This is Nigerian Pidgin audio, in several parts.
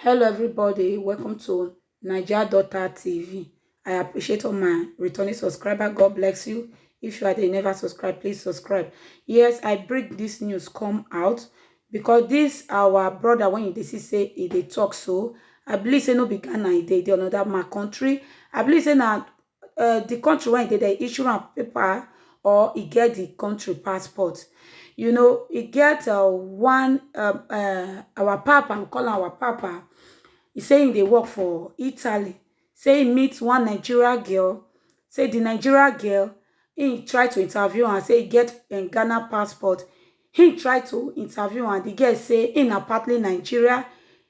Hello everybody, welcome to Naija Daughter TV. I appreciate all my returning subscriber. God bless you. If you are there, never subscribe, please subscribe. Yes, I bring this news come out because this our brother when they see say he dey talk so. I believe say no be Ghana, he dey dey another my country. I believe say na um the country wey e dey, they issue am paper or e get the country passport. You know, e get uh, one, um, um, our papa, we call am our papa. He say he dey work for Italy. Say he meet one Nigeria girl. Say the Nigeria girl, he try to interview am, say he get um, Ghana passport. He try to interview am. The girl say he na partly Nigeria.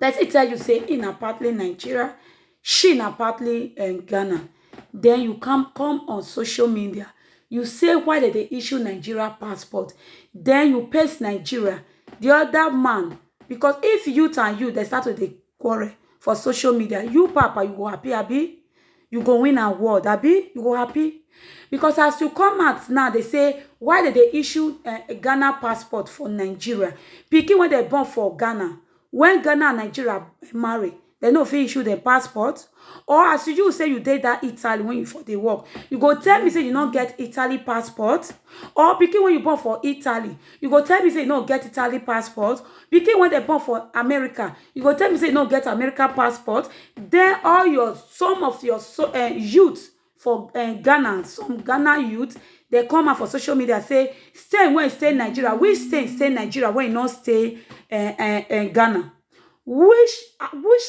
person tell you say he na partly Nigeria, she na partly um, Ghana, then you come come on social media, you say why dem dey issue Nigeria passport, then you paste Nigeria, the other man, because if youth and youth dey start to dey quarrel for social media, you papa you go happy abi? you go win award abi you go happy because as you come out now dey say why dem dey issue eh, ghana passport for nigeria pikin wey dem born for ghana when ghana and nigeria marry dem no fit issue dem passport or as you say you dey that italy when you for dey work you go tell me say you no get italy passport or pikin wey you born for italy you go tell me say you no get italy passport pikin wey dem born for america You go tell me say you no get American passport, then all your some of your so, uh, youth for uh, Ghana, some Ghana youth, they come out for social media say stay when stay Nigeria, which stay stay Nigeria when you not stay uh, uh, uh, Ghana, which uh, which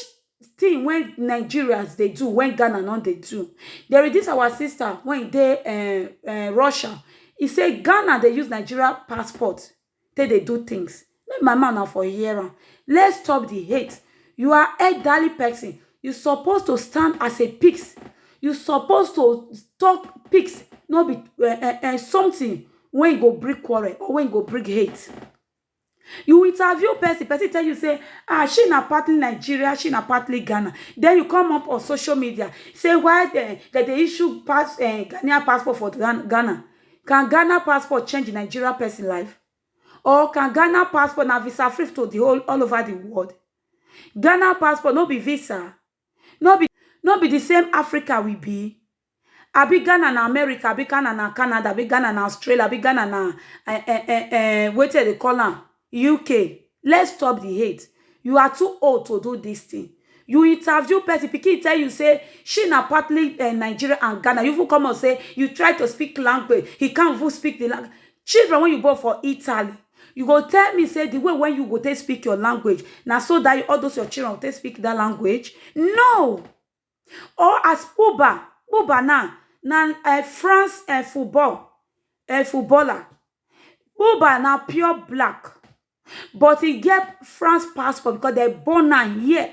thing when Nigerians they do when Ghana not they do. There is this our sister when they uh, uh, Russia, he say Ghana they use Nigeria passport. take dey do things. Make my mouth na for hear am. Let's stop the hate. You are elderly person. You suppose to stand as a pigs. You suppose to talk pigs, no be um um something wey go bring quarrel or wey go bring hate. You interview person, person tell you say um she na partly Nigeria, she na partly Ghana. Den you come up on social media say why dem dem dey issue pass um Ghanaian passport for Ghana. Can Ghana passport change the Nigeria person life? Or can Ghana passport na visa free to the whole all over the world? Ghana passport no be visa? No be no be the same Africa we be? Abi Ghana na America, abi Ghana na Canada, abi Ghana na Australia, abi Ghana na eh eh eh eh wetin dem dey call am? Uk, let's stop the hate, you are too old to do this thing. You interview person, pikin tell you say she na partly uh, Nigeria and Ghana. You even come out say you try to speak language, he can't even speak the language. Children when you born for Italy, you go tell me say the way when you go take speak your language, now so that all those your children will take speak that language. No, or as Pogba, Pogba now na um France um football um footballer. Pogba na pure black but e get France passport because dem born am here.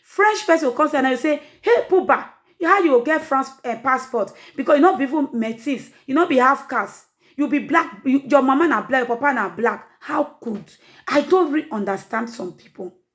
French person go come see am, dem go say, hey Pogba, how you go get France um passport because you no be even metis, you no be half caste, you be black, your mama na black, your papa na black. How could? I don't really understand some pipu.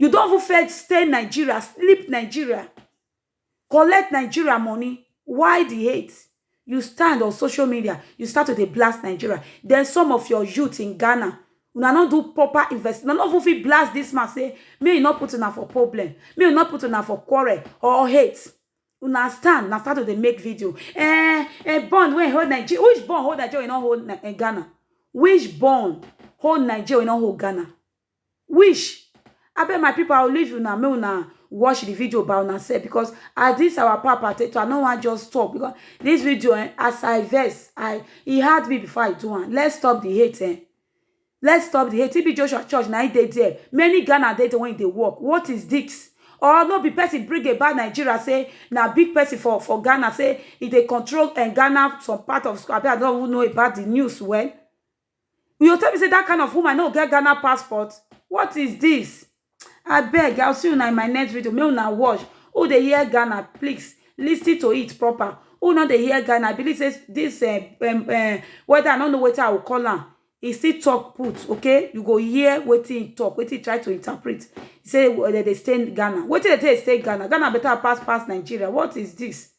you don even fail stay nigeria sleep nigeria collect nigeria money why di hate you stand on social media you start to dey blast nigeria den some of your youth in ghana una no do proper invest una no even fit blast dis man say make you no put una for problem make you no put una for quarrel or hate una stand na start to dey make video eh eh bond wey hold nigeria which bond hold nigeria wey no hold ghana which bond hold nigeria wey no hold ghana Wish, abeg my people I will leave una make una watch the video by una self because as this our papa take talk, I no wan just stop because this video eh, as I vex, I e hard me before I do am. Let's stop the hate eh. Let's stop the hate. TB Joshua Church na im dey there. Many Ghana dey there when e dey work. What is this? Or no be person bring about Nigeria say na big person for for Ghana say e dey control eh, Ghana some part of school. Abi I don't even know about the news well. You go tell me sey dat kind of woman no get Ghana passport? What is dis? Abeg, I will see una in my next video, make una watch. Who dey hear Ghana, please lis ten to it proper. Who no dey hear Ghana, I believe sey dis um um whether I no know wetin I will call am, e still talk put, okay? You go hear wetin e talk, wetin e try to interpret. Sey de dey stay Ghana. Wetin de take dey stay Ghana? Ghana better pass pass Nigeria. What is dis?